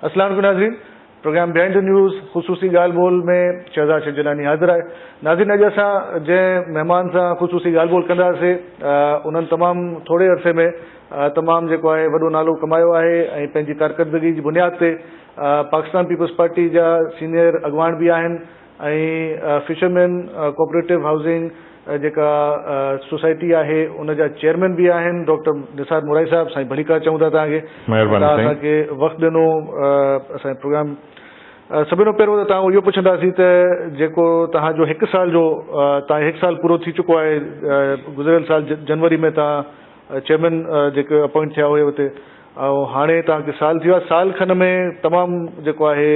السلام عليڪم ناظرين پروگرام بيهائنڊ دي نيوز خصوصي ڳالهه ٻولهه ۾ شهزاد شجناني حاضر آهي ناظرين اڄ اسان جنهن مهمان سان خصوصي ڳالهه ٻولهه ڪنداسين انهن تمام ٿوري عرصي ۾ تمام جيڪو آهي وڏو نالو ڪمايو آهي ۽ پنهنجي ڪارڪردگي جي بنياد تي پاڪستان پيپلز پارٽي جا سينئر اڳواڻ به آهن ۽ فشرمين ڪوپريٽو هائوسنگ جيڪا سوسائٽي آهي ان جا چيئرمين به آهن ڊاڪٽر نثار مورائي صاحب سائين ڀليڪار چئون ٿا توهان کي مهرباني سائين اسان کي وقت ڏنو اسان پروگرام سڀني کان پهريون ته توهان اهو پڇنداسين ته جيڪو توهان جو هڪ سال جو توهان هڪ سال پورو ٿي چڪو آهي گذريل سال جنوري ۾ توهان چيئرمين جيڪي اپوائنٽ ٿيا اهي اتي ۽ هاڻي تان کي سال ٿيو آهي سال کن ۾ تمام جيڪو آهي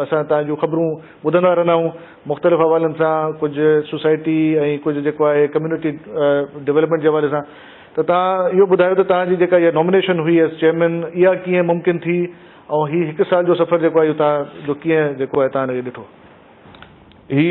اسان تان جون خبرون ٻڌندا رهندا آهيون مختلف حوالن سان ڪجهه سوسائٽي ۽ ڪجهه جيڪو آهي ڪميونٽي ڊولپمينٽ جي حوالي سان ته تان اهو ٻڌايو ته تان جي جيڪا اها نامينيشن هئي ايز چيئرمين اها ڪيئن ممڪن ٿي ۽ هي هڪ سال جو سفر جيڪو آهي اهو تان جو ڪيئن جيڪو آهي تان اهو ڏٺو هي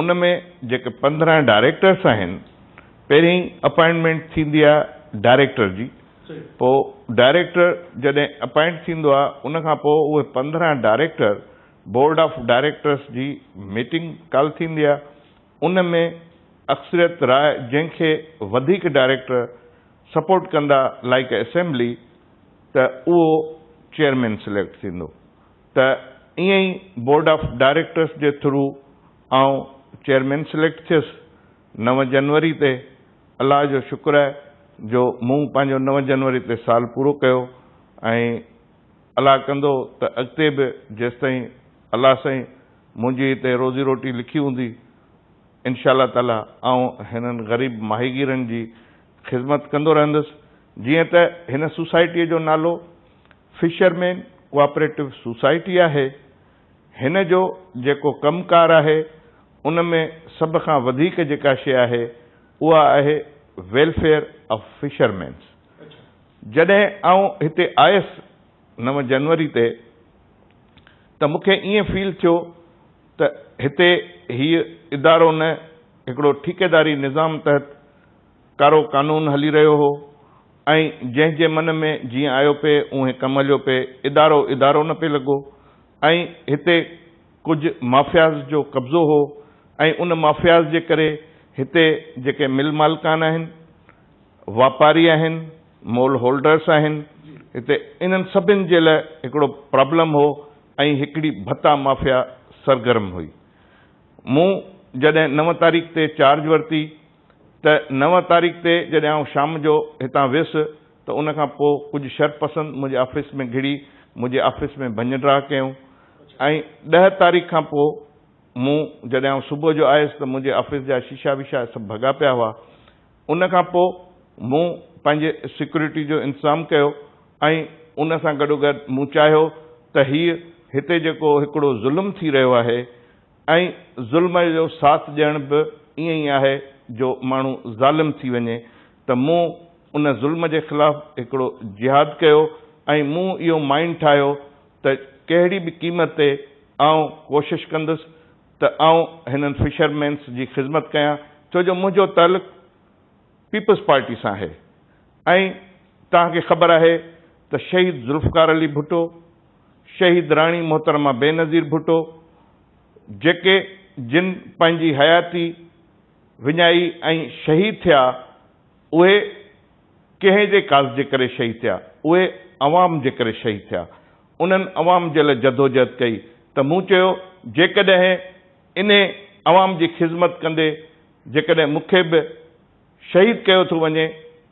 ان ۾ جيڪي پندرهن ڊائريڪٽرس آهن پهرين اپائنٽمينٽ ٿيندي آهي ڊائريڪٽر جي پوء ڊائريڪٽر جڏهن اپائنٽ ٿيندو آهي ان کان پوء اهي پندرهن ڊائريڪٽر بورڊ آف ڊائريڪٽرس جي ميٽنگ ڪال ٿيندي آهي ان ۾ اڪثريت راء جنهن کي وڌيڪ ڊائريڪٽر سپورٽ ڪندا لائيڪ اسيمبلي ته اهو چيئرمين سليڪٽ ٿيندو ته ائين ئي بورڊ آف ڊائريڪٽرس جي ٿرو آئون چيئرمين سليڪٽ ٿيس نو جنوري تي، الله جو شڪر آهي جو مون پنهنجو نو جنوري تي سال پورو ڪيو ۽ الله ڪندو ته اڳتي به جيستائين الله سائين منهنجي هتي روزي روٽي لکي هوندي انشاء الله تعاليٰ آئون هنن غريب ماهيگيرن جي خدمت ڪندو رهندس جيئن ته هن سوسائٽيء جو نالو فشرمين ڪوآپريٽو سوسائٽي آهي. هن جو جيڪو ڪم ڪار آهي ان ۾ سڀ کان وڌيڪ جيڪا شيء آهي اها آهي ويلفيئر آف فشرمينز. جڏهن آئون هتي آيس نو جنوري تي ته مون کي ائين فيل ٿيو ته هتي هيء ادارو نه هڪڙو ٺيڪيداري نظام تحت ڪارو قانون هلي رهيو هو ۽ جنهن جي من ۾ جيئن آيو پئي اونهي ڪم هليو پئي، ادارو ادارو نه پئي لڳو ۽ هتي ڪجهه مافياز جو قبضو هو ۽ ان مافياز جي ڪري هتي جيڪي مل مالڪان آهن، واپاري آهن، مول هولڊرس آهن، هتي انهن سڀن جي لاء هڪڙو پرابلم هو ۽ هڪڙي ڀتا مافيا سرگرم هئي. مون جڏهن نو تاريخ تي چارج ورتي. ته نو تاريخ تي جڏهن آئون شام جو هتان ويس ته ان کان پوء ڪجهه شرپسند منهنجي آفيس ۾ گهڙي منهنجي آفيس ۾ ڀڃ ڊاهه ڪيائون ۽ ڏهه تاريخ کان پوء مون جڏهن آئون صبح جو آيس ته منهنجي آفيس جا شيشا ويشا سڀ ڀڳا پيا هئا ان کان پوء مون پنهنجي سيڪيورٽي جو انتظام ڪيو ۽ ان سان گڏوگڏ مون چاهيو ته هيء هتي جيڪو هڪڙو ظلم ٿي رهيو آهي ۽ ظلم جو ساٿ ڏيڻ به ائين ئي آهي جو ماڻهو ظالم ٿي وڃي ته مون ان ظلم جي خلاف هڪڙو جهاد ڪيو ۽ مون اهو مائين ٺاهيو ته ڪهڙي به قيمت تي آئون ڪوشش ڪندس ته آئون هنن فشر مينس جي خذمت ڪيان ڇو جو منهنجو تعلق پيپلز پارٽي سان آهي ۽ توهان کي خبر آهي ته شهيد ذوالفقار علي ڀٽو شهيد راڻي محترمه بينظير ڀٽو جيڪي جن پنهنجي حياتي وڃائي ۽ شهيد ٿيا اهي ڪنهن جي ڪاز جي ڪري شهيد ٿيا اهي عوام جي ڪري شهيد ٿيا انهن عوام جي لاء جدوجهد ڪئي ته مون چيو جيڪڏهن انهي عوام جي خذمت ڪندي جيڪڏهن مون کي به شهيد ڪيو ٿو وڃي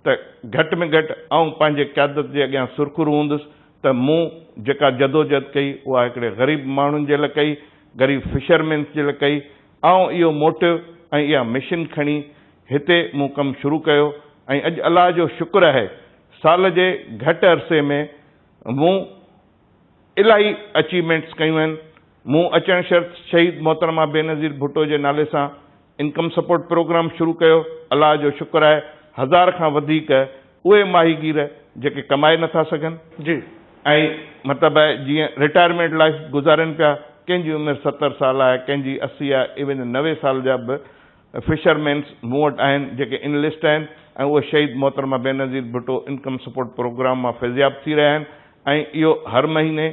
ته گهٽ ۾ گهٽ آئون پنهنجي قيادت جي اڳيان سرخرو هوندس ته مون جيڪا جدوجهد ڪئي اها هڪڙي غريب ماڻهن جي لاء ڪئي، غريب فشرمينس جي لاء ڪئي. آئون اهو موٽو ۽ اها مشن کڻي هتي مون ڪم شروع ڪيو ۽ اڄ الله جو شڪر آهي سال جي گهٽ عرصي ۾ مون الاهي اچيومينٽس ڪيون آهن، مون اچڻ شرط شهيد محترمه بينظير ڀٽو جي نالي سان انڪم سپورٽ پروگرام شروع ڪيو، الله جو شڪر آهي هزار کان وڌيڪ اهي ماهيگير جيڪي ڪمائي نٿا سگهن، ۽ مطلب آهي جيئن رٽائرمينٽ لائيف گذارين پيا، ڪنهن جي عمر ستر سال آهي، ڪنهن جي اسي آهي، ايون نوي سال جا به فشر مينس مون وٽ آهن جيڪي انلسٽ آهن ۽ اهي شهيد محترمه Benazir Bhutto income support programme مان فيضياب ٿي رهيا آهن ۽ اهو هر مهيني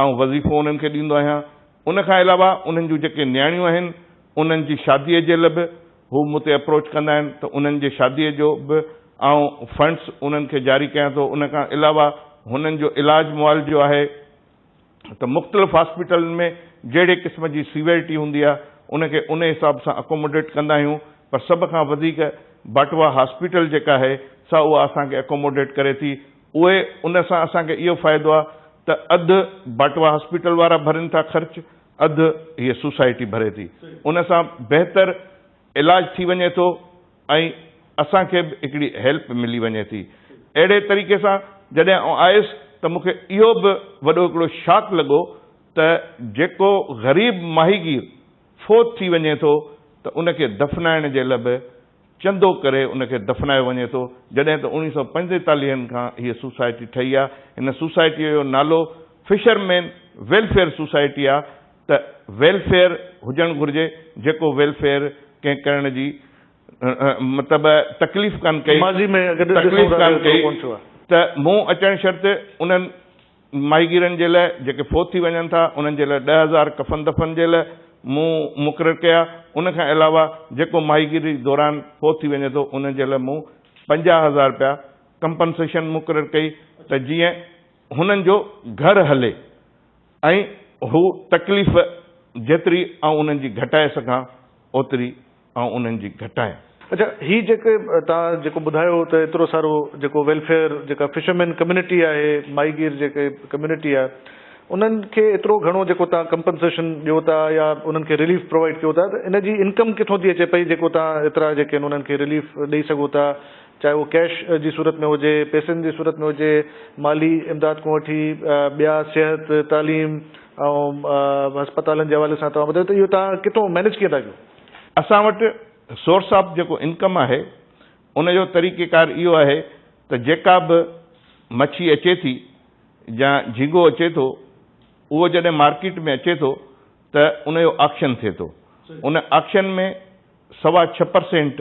آئون وظيفو انهن کي ڏيندو آهيان ان کان علاوه انهن جون جيڪي نياڻيون آهن انهن جي شادي جي ل به هو مون تي اپروچ ڪندا آهن ته انهن جي شادي جو به آئون فنڊس انهن کي جاري ڪيان ٿو ان کان علاوه هنن جو علاج معالجو آهي. ته مختلف هاسپيٽلن ۾ جهڙي قسم جي سيويرٽي هوندي آهي ان کي ان حساب سان اڪوموڊيٽ ڪندا آهيون پر سڀ کان وڌيڪ باٽوا هاسپيٽل جيڪا آهي سا اها اسان کي اڪوموڊيٽ ڪري ٿي اهي ان سان اسان کي اهو فائدو آهي ته اڌ باٽوا هاسپيٽل وارا ڀرين ٿا خرچ اڌ هيء سوسائٽي ڀري ٿي ان سان بهتر علاج ٿي وڃي ٿو ۽ اسان کي به هڪڙي هيلپ ملي وڃي ٿي اهڙي طريقي سان جڏهن آئون آيس ته مون کي اهو به وڏو هڪڙو شاڪ لڳو ته جيڪو غريب ماهيگير فوت ٿي وڃي ٿو ته ان کي دفنائڻ جي لا به چندو ڪري ان کي دفنايو وڃي ٿو جڏهن ته اوڻيهه سؤ پنجيتاليهن کان هيء سوسائٽي ٺهي آهي هن سوسائٽيء جو نالو فشرمين ويلفيئر سوسائٽي آهي ته ويلفيئر هجڻ گهرجي جيڪو ويلفيئر ڪنهن ڪرڻ جي مطلب تڪليف ڪانه ڪئي تڪليف ڪانه ڪئي ته مون اچڻ شرط انهن ماهيگيرن جي لاء جيڪي فوت ٿي وڃن ٿا انهن جي لاء ڏهه هزار ڪفن دفن جي لاء مون مقرر ڪيا ان کان علاوه جيڪو ماهيگيري دوران فوت ٿي وڃي ٿو انهن جي لاء مون پنجاهه هزار رپيا ڪمپنسيشن مقرر ڪئي ته جيئن هنن جو گهر هلي. ۽ هو تڪليف جيتري آئون انهن جي گهٽائي سگهان اوتري آئون انهن جي گهٽايان. اڇا هي جيڪي توهان جيڪو ٻڌايو ته ايترو سارو جيڪو ويلفيئر جيڪا فشرمين ڪميونٽي آهي ماهي گير جيڪي ڪميونٽي آهي انهن کي ايترو گهڻو جيڪو توهان ڪمپنسيشن ڏيو ٿا يا انهن کي رليف پرووائيڊ ڪيو ٿا ته ان جي انڪم ڪٿون ٿي اچي پئي جيڪو توهان ايترا جيڪي انهن کي رليف ڏئي سگهو ٿا چاهي اهو ڪيش جي صورت ۾ هجي، پيسن جي صورت ۾ هجي، مالي امداد کان وٺي ٻيا صحت، تعليم ۽ هسپتالن جي حوالي سان توهان ٻڌايو ته اهو توهان ڪٿو مينيج ڪيئن ٿا ڪيو؟ اسان وٽ سورس آف جيڪو انڪم آهي ان جو طريقيڪار اهو آهي ته جيڪا به مڇي اچي ٿي يا جهينگو اچي ٿو اهو جڏهن مارڪيٽ ۾ اچي ٿو ته ان جو آڪشن ٿئي ٿو ان آڪشن ۾ سوا ڇهه پرسينٽ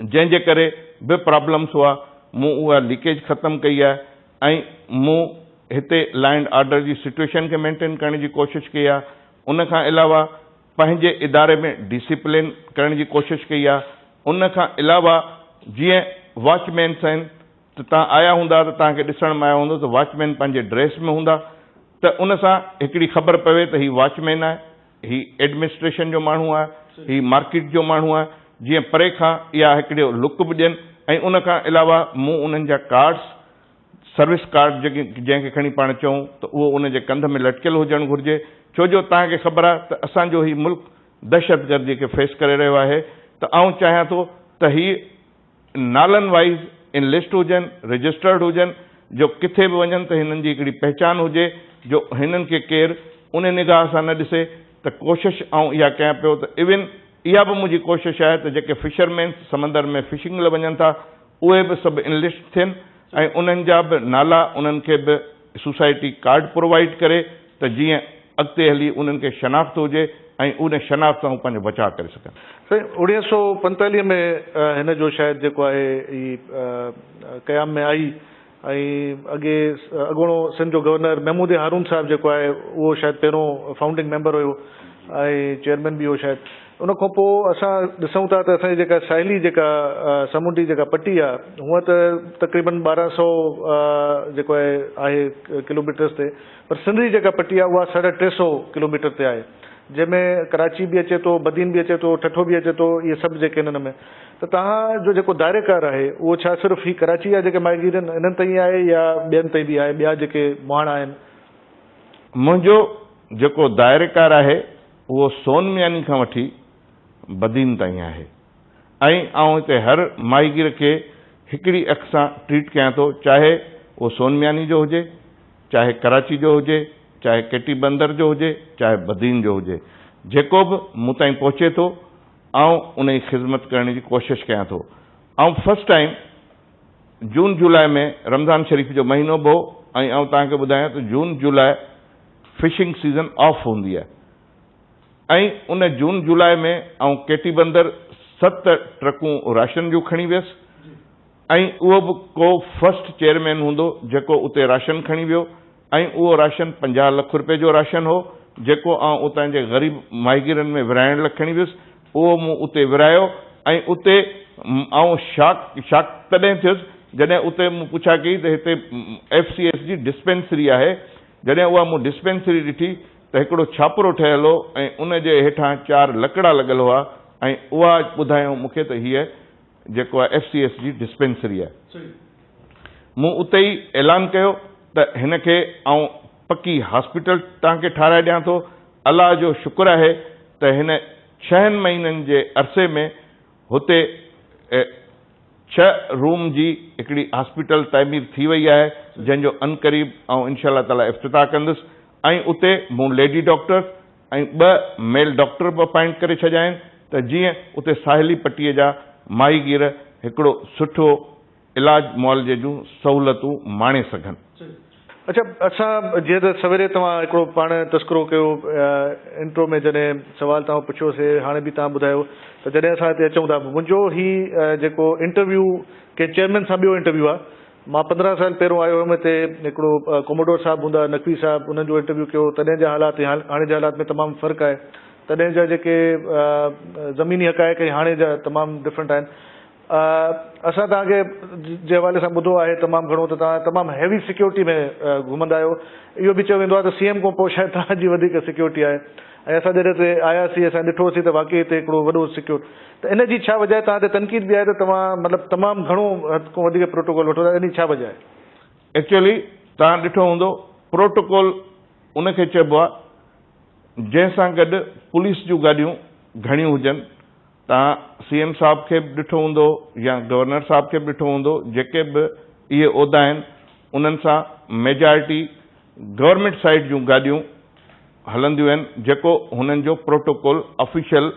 جنهن جي ڪري به پرابلمس هئا، مون اها ليڪيج ختم ڪئي آهي ۽ مون هتي لا اينڊ آرڊر جي سٽوئيشن کي مينٽين ڪرڻ جي ڪوشش ڪئي آهي، ان کان علاوه پنهنجي اداري ۾ ڊسيپلين ڪرڻ جي ڪوشش ڪئي آهي، ان کان علاوه جيئن واچ مينس آهن ته توهان آيا هوندا ته توهان کي ڏسڻ ۾ آيو هوندو ته واچ مين پنهنجي ڊريس ۾ هوندا ته ان سان هڪڙي خبر پوي ته هي واچ مين آهي، هي ايڊمنسٽريشن جو ماڻهو آهي، هي مارڪيٽ جو ماڻهو آهي، جيئن پري کان اها هڪڙو لڪ به ڏين ۽ ان کان علاوه مون انهن جا ڪارڊس، سروس ڪارڊ جنهن کي کڻي پاڻ چئون ته اهو ان جي ڪنڌ ۾ لٽڪيل هجڻ گهرجي ڇو جو توهان کي خبر آهي ته اسان جو هي ملڪ دهشتگردي کي فيس ڪري رهيو آهي ته آئون چاهيان ٿو ته هي نالن وائيز ان لسٽ هجن، رجسٽرڊ هجن جو ڪٿي به وڃن ته هنن جي هڪڙي پهچان هجي جو هنن کي ڪير ان نگاهه سان نه ڏسي ته ڪوشش آئون اها ڪيان پيو ته ايون اها به منهنجي ڪوشش آهي ته جيڪي فشرمينس سمندر ۾ فشنگ لئه وڃن ٿا اهي به سڀ انلسٽ ٿين ۽ انهن جا به نالا انهن کي به سوسائٽي ڪارڊ پرووائيڊ ڪري ته جيئن اڳتي هلي انهن کي شناخت هجي ۽ ان شناخت سان هو پنهنجو بچاء ڪري سگهن. سائين اوڻيهه سؤ پنجتاليهه ۾ هن جو شايد جيڪو آهي هي قيام ۾ آئي ۽ اڳي اڳوڻو سنڌ جو گورنر محمود هارون صاحب جيڪو آهي اهو شايد پهريون فائونڊنگ ميمبر هيو ۽ چيئرمين به هو شايد. ان کان پوء اسان ڏسون ٿا ته اسان جي جيڪا ساحلي جيڪا سمنڊي جيڪا پٽي آهي هونئن ته تقريبن ٻارهن سؤ جيڪو آهي آهي ڪلوميٽرس تي پر سنڌ جي جيڪا پٽي آهي اها ساڍا ٽي سؤ ڪلوميٽر تي آهي جنهن ۾ ڪراچي به اچي ٿو بدين به اچي ٿو ٺٺو به اچي ٿو اهي سڀ جيڪي هنن ۾ ته توهان جو جيڪو دائري ڪار آهي اهو ڇا صرف هي ڪراچي جا جيڪي ماهيگيرن هنن تائين آهي يا ٻين تائين به آهي ٻيا جيڪي مهاڻا آهن. منهنجو جيڪو دائري ڪار آهي اهو سون مياني کان وٺي بدين تائين آهي ۽ آئون هتي هر ماهيگير کي هڪڙي اک سان ٽريٽ ڪيان ٿو چاهي اهو سون مياني جو هجي چاهي ڪراچي جو هجي چاهي ڪيٽي بندر جو هجي چاهي بدين جو هجي جيڪو به مون تائين پهچي ٿو آئون ان جي خذمت ڪرڻ جي ڪوشش ڪيان ٿو آئون first time June July ۾ Ramzan Sharif جو مهينو به هو ۽ آئون توهان کي ٻڌايان ته June July fishing season off هوندي آهي ۽ ان جون جولاء ۾ آئون ڪيٽي بندر ست ٽرڪون راشن جون کڻي ويس ۽ اهو به ڪو فرسٽ چيئرمين هوندو جيڪو اتي راشن کڻي ويو ۽ اهو راشن پنجاهه لک رپئي جو راشن هو، جيڪو آئون اتان جي غريب ماهيگيرن ۾ ورهائڻ لاء کڻي ويس. اهو مون اتي ورهايو ۽ اتي آئون شاڪ Shock تڏهن ٿيس، جڏهن اتي مون پڇا ڪئي ته هتي ايف سي ايس جي ڊسپينسري آهي. جڏهن اها مون ڊسپينسري ڏٺي ته هڪڙو ڇاپرو ٺهيل هو ۽ ان جي هيٺان چار لڪڙا لڳل هئا ۽ اها ٻڌايائون مون کي ته هيء جيڪو آهي ايف سي ايس جي ڊسپينسري آهي. مون اتي ئي اعلان ڪيو ته هن کي آئون پڪي هاسپيٽل توهان کي ٺهرائي ڏيان ٿو. الله جو شڪر آهي ته هن ڇهن مهينن جي عرصي ۾ هتي ڇهه روم جي هڪڙي هاسپيٽل تعمير ٿي وئي آهي جنهن جو عنقريب آئون انشاء الله تعاليٰ افتتاح ڪندس ۽ اتي مون ليڊي ڊاڪٽر ۽ ٻه ميل ڊاڪٽر به اپائنٽ ڪري ڇڏيا آهن ته جيئن اتي ساحلي پٽي جا ماهيگير هڪڙو سٺو علاج معالجي جون سهولتون ماڻي سگهن. اڇا اسان جيئن ته سويري توهان هڪڙو پاڻ تذڪرو ڪيو انٽرو ۾ جڏهن سوال توهان پڇيو سي هاڻي به توهان ٻڌايو ته جڏهن اسان هتي اچون ٿا منهنجو هي جيڪو انٽرويو ڪنهن چيئرمين سان ٻيو انٽرويو آ مان پندرهن سال پهرون آيو هيم هتي هڪڙو ڪوموڊور صاحب هوندا نقوي صاحب انهن جو انٽرويو ڪيو تڏهن جا حالات ۽ هاڻي جي حالات ۾ تمام فرق آهي تڏهن جا جيڪي زميني حقائق ۽ هاڻي جا تمام ڊفرنٽ آهن اسان توهان کي جي حوالي سان ٻڌو آهي تمام گهڻو ته توهان تمام هيوي سيڪيورٽي ۾ گهمندا آهيو. اهو به چيو ويندو آهي ته سي ايم کان پوء شايد توهان جي وڌيڪ سيڪيورٽي آهي ۽ اسان جڏهن هتي آيا سين اسان ڏٺو سين ته واقعي هتي هڪڙو وڏو سيڪيور ته ان جي ڇا وجه آهي توهان تي تنقيد به آهي ته توهان مطلب تمام گهڻو حد کان وڌيڪ پروٽوڪول وٺو ٿا ان جي ڇا وجه آهي؟ ايڪچوئلي توهان ڏٺو هوندو پروٽوڪول ان کي چئبو آهي جنهن سان گڏ پوليس جون گاڏيون گهڻيون هجن توهان سي ايم صاحب کي به ڏٺو هوندو يا گورنر صاحب کي به ڏٺو هوندو جيڪي به اهي عهدا آهن انهن سان ميجارٽي گورنمينٽ سائيڊ جون گاڏيون هلنديون آهن جيڪو هنن جو پروٽوڪول آفيشل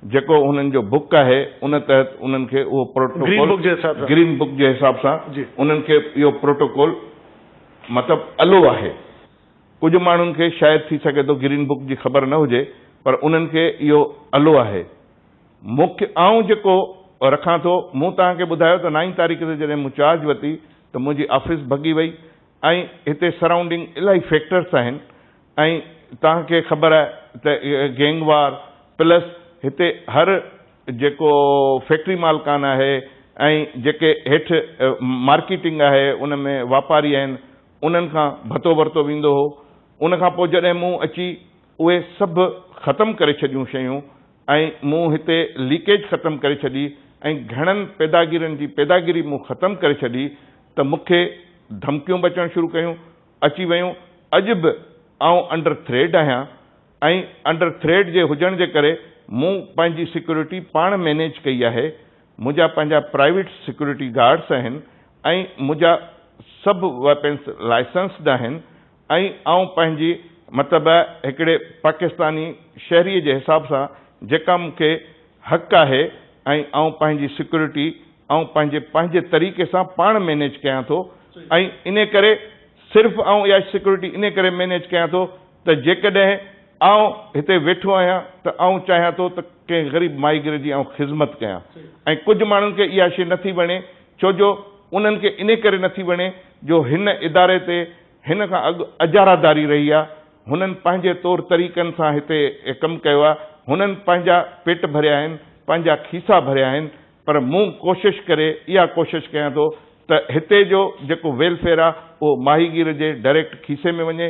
جيڪو هنن جو بڪ آهي ان تحت انهن کي اهو پروٽوڪول گرين بڪ جي حساب سان انهن کي اهو پروٽوڪول مطلب الو آهي. ڪجهه ماڻهن کي شايد ٿي سگهي ٿو گرين بڪ جي خبر نه هجي پر انهن کي اهو الو آهي. مون کي آئون جيڪو رکان ٿو مون توهان کي ٻڌايو ته نائين تاريخ تي جڏهن مون چارج ورتي ته منهنجي آفيس ڀڳي وئي ۽ هتي سرائونڊنگ الاهي فيڪٽرس آهن ۽ توهان کي خبر آهي ته گينگ وار پلس هتي هر جيڪو فيڪٽري مالڪان آهي ۽ جيڪي هيٺ مارڪيٽنگ آهي ان ۾ واپاري آهن انهن کان ڀتو ورتو ويندو هو، ان کان پوء جڏهن مون اچي اهي سڀ ختم ڪري ڇڏيون شيون ۽ مون هتي ليڪيج ختم ڪري ڇڏي ۽ گهڻن پيداگيرن جي پيداگيري مون ختم ڪري ڇڏي ته مون کي ڌمڪيون به اچڻ شروع ڪيون اچي ويون اڄ به آئون انڊر ٿريڊ آهيان ۽ انڊر ٿريڊ جي هجڻ جي ڪري مون پنهنجي سيڪيورٽي پاڻ مينيج ڪئي آهي منهنجا پنهنجا پرائيويٽ سيڪيورٽي گارڊز آهن ۽ منهنجا سڀ ويپنز لائسنسڊ آهن ۽ آئون پنهنجي مطلب هڪڙي پاڪستاني شهري جي حساب سان جيڪا مون کي حق آهي ۽ آئون پنهنجي سيڪيورٽي آئون پنهنجي پنهنجي طريقي سان پاڻ مينيج ڪيان ٿو ۽ انهي ڪري صرف آئون اها سيڪيورٽي انهي ڪري مينيج ڪيان ٿو ته جيڪڏهن آئون هتي ويٺو آهيان ته آئون چاهيان ٿو ته ڪنهن غريب ماهيگير جي آئون خذمت ڪيان ۽ ڪجهه ماڻهن کي اها شيء نٿي وڻي ڇو جو انهن کي انهي ڪري نٿي وڻي جو هن اداري تي هن کان اڳ اجاراداري رهي آهي هنن پنهنجي طور طريقن سان هتي ڪم ڪيو آهي هنن پنهنجا پيٽ ڀريا آهن پنهنجا کيسا ڀريا آهن پر مون ڪوشش ڪري اها ڪوشش ڪيان ٿو ته هتي جو جيڪو ويلفيئر آهي اهو ماهيگير جي ڊائريڪٽ کيسي ۾ وڃي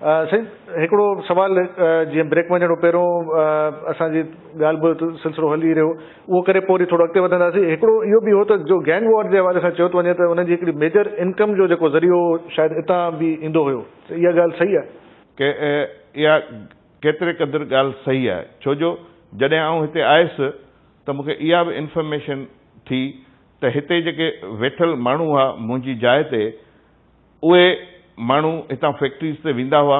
سائين هڪڙو سوال جيئن بريڪ مان جهڙو پهريون اسان جي ڳالهه ٻولهه سلسلو هلي ئي رهيو اهو ڪري پوء وري ٿورو اڳتي وڌنداسين هڪڙو اهو به هو ته جو گينگ وار جي حوالي سان چيو ٿو وڃي ته انهن جي هڪڙي ميجر انڪم جو جيڪو ذريعو هو شايد اتان به ايندو هيو ته اها ڳالهه صحيح آهي؟ ڪي اها ڪيتري قدر ڳالهه صحيح آهي ڇو جو جڏهن آئون هتي آيس ته مون کي اها به انفرميشن ٿي ته هتي جيڪي ويٺل ماڻهو هئا منهنجي جاء تي اهي ماڻهو هتان فيڪٽريز تي ويندا هئا،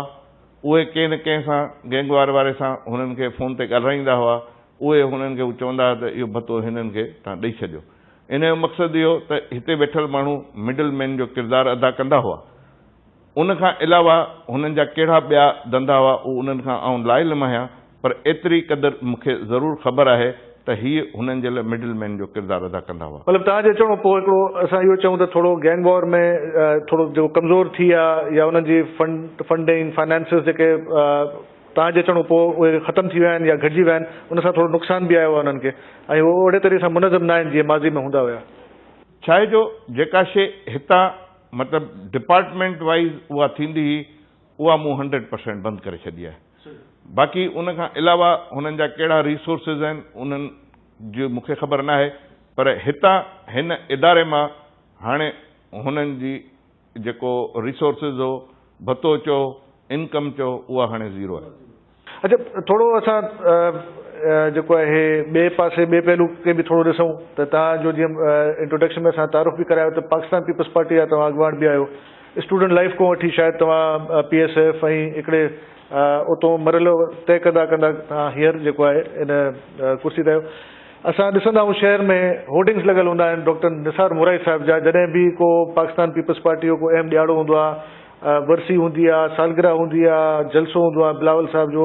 اهي ڪنهن نه ڪنهن سان گينگ وار واري سان هنن کي فون تي ڳالهرائيندا هئا، اهي هنن کي چوندا هئا ته اهو ڀتو هنن کي تهان ڏئي ڇڏيو. ان جو مقصد اهو ته هتي ويٺل ماڻهو مڊل مين جو ڪردار ادا ڪندا هئا. ان کان علاوه هنن جا ڪهڙا ٻيا ڌنڌا هئا اهو انهن کان آئون لائي لمهيان پر ايتري قدر مون کي ضرور خبر آهي ته هيء هنن جي لاء مڊل مين جو ڪردار ادا ڪندا هئا. مطلب توهان جي اچڻ کان پوء هڪڙو اسان اهو چئون ته ٿورو گينگ وار ۾ ٿورو جيڪو ڪمزور ٿي ويا يا انهن جي فنڊ فنڊنگ فنانسز جيڪي توهان جي اچڻ کان پوء اهي ختم ٿي ويا آهن يا گهٽجي ويا آهن ان سان ٿورو نقصان به آيو آهي انهن کي ۽ هو اوهڙي طرح سان منظم ناهن جيئن ماضي ۾ هوندا هيا. ڇاهي جو جيڪا شيء هتان مطلب ڊپارٽمينٽ وائيز اها ٿيندي هئي اها مون هنڊريڊ پرسينٽ بند ڪري ڇڏي آهي. باقي ان کان علاوه هنن جا ڪهڙا ريسورسز آهن انهن جي مون کي خبر ناهي پر هتان هن اداري مان هاڻي هنن جي جيڪو ريسورسز هو ڀتو چئو انڪم چئو اها هاڻي زيرو آهي. اچا ٿورو اسان جيڪو آهي ٻئي پاسي ٻئي پهلو کي به ٿورو ڏسون ته توهان جو جيئن انٽروڊڪشن ۾ اسان تعارف به ڪرايو ته پاڪستان پيپلز پارٽي جا توهان اڳواڻ به آهيو. اسٽوڊنٽ لائيف کان وٺي شايد توهان پي ايس ايف ۽ هڪڙي اتون مرحلو طئي ڪندا ڪندا توهان هينئر جيڪو آهي ان ڪرسي تي آهيو. اسان ڏسندا آهيون شهر ۾ هورڊنگس لڳل هوندا آهن ڊاڪٽر نثار مورائي صاحب جا جڏهن به ڪو پاڪستان پيپلز پارٽي جو ڪو اهم ڏيهاڙو هوندو آهي، ورسي هوندي آهي، سالگرهه هوندي آهي، جلسو هوندو آهي بلاول صاحب جو،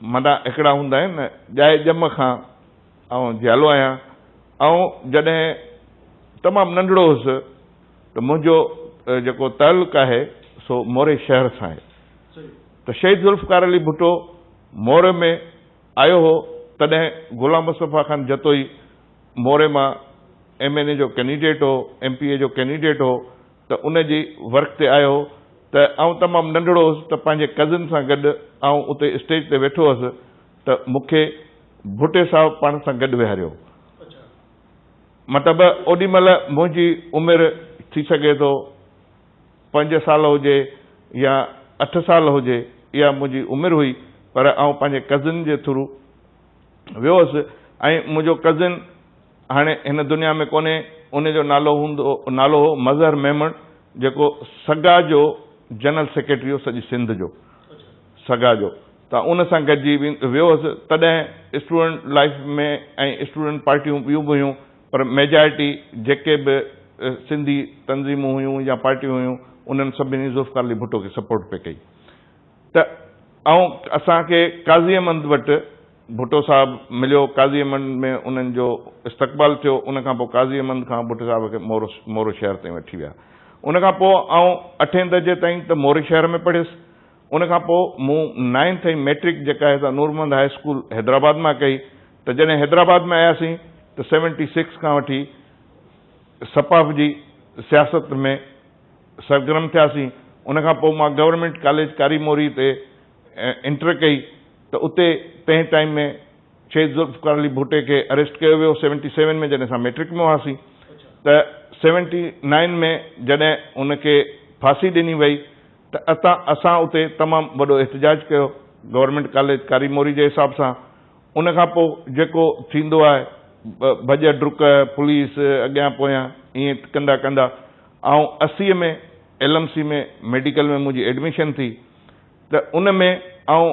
منا هڪڙا هوندا آهن نه ڄائي ڄم کان آئون جيالو آهيان. آئون جڏهن تمام ننڍڙو هوس ته منهنجو جيڪو تعلق آهي سو موري شهر سان آهي ته شهيد ذوالفقار علي ڀٽو موري ۾ آيو هو تڏهن غلام مصطفيٰ خان جتوئي موري مان ايم اين اي جو ڪينڊيڊيٽ هو ايم پي اي جو ڪينڊيڊيٽ هو ته ان جي ورڪ تي آيو هو ته آئون تمام ننڍڙو هوس ته پنهنجي ڪزن سان گڏ آئون اتي اسٽيج تي ويٺو هوس ته مون کي ڀٽي صاحب پاڻ سان گڏ ويهاريو مطلب اوڏي مهل منهنجي عمر ٿي سگهي ٿو پنج سال هجي يا اٺ سال هجي اها منهنجي عمر هئي پر آئون پنهنجي ڪزن جي ٿرو ويو هوس ۽ منهنجو ڪزن هاڻي هن دنيا ۾ ڪونهي، ان جو نالو هوندو نالو هو مظهر ميمڻ جيڪو سگا جو جنرل سيڪريٽري هو سڄي سنڌ جو سگا جو ته ان سان گڏجي ويو هوس تڏهن اسٽوڊنٽ لائيف ۾ ۽ اسٽوڊنٽ پارٽيون ٻيون به هيون پر ميجارٽي جيڪي به سنڌي تنظيمون هيون يا پارٽيون هيون انهن سڀني ذوالفقار علي ڀٽو کي سپورٽ پئي ڪئي ته آئون اسان کي قاضي احمد وٽ ڀٽو صاحب مليو، قاضي احمد ۾ انهن جو استقبال ٿيو، ان کان پوء قاضي احمد خان ڀٽو صاحب کي مورو مورو شهر تائين وٺي ويا. ان کان پوء آئون اٺين درجي تائين ته موري شهر ۾ پڙهيس. ان کان پوء مون نائنٿ ۽ مئٽرڪ جيڪا هي سا نور محمد هاء اسڪول حيدرآباد مان ڪئي ته جڏهن حيدرآباد ۾ آياسين ته سيونٽي سڪس کان وٺي سپاف جي سياست ۾ سرگرم ٿياسين. ان کان پوء مان گورنمينٽ ڪاليج ڪاري موري تي انٽر ڪئي ته اتي تنهن ٽائيم ۾ شهيد ذوالفقار علي ڀٽي کي اريسٽ ڪيو ويو سيونٽي سيون ۾ جڏهن اسان ميٽرڪ ۾ هئاسين ته سيونٽي نائين ۾ جڏهن ان کي ڦاسي ڏني وئي ته اتان اسان اتي تمام وڏو احتجاج ڪيو گورنمينٽ ڪاليج ڪاري موري جي حساب سان ان کان پوء جيڪو ٿيندو آهي ڀڄ ڊڪ پوليس اڳيان پويان ائين ڪندا ڪندا آئون اسي ۾ ايل ايم سي ۾ ميڊيڪل ۾ منهنجي ايڊميشن ٿي ته ان ۾ آئون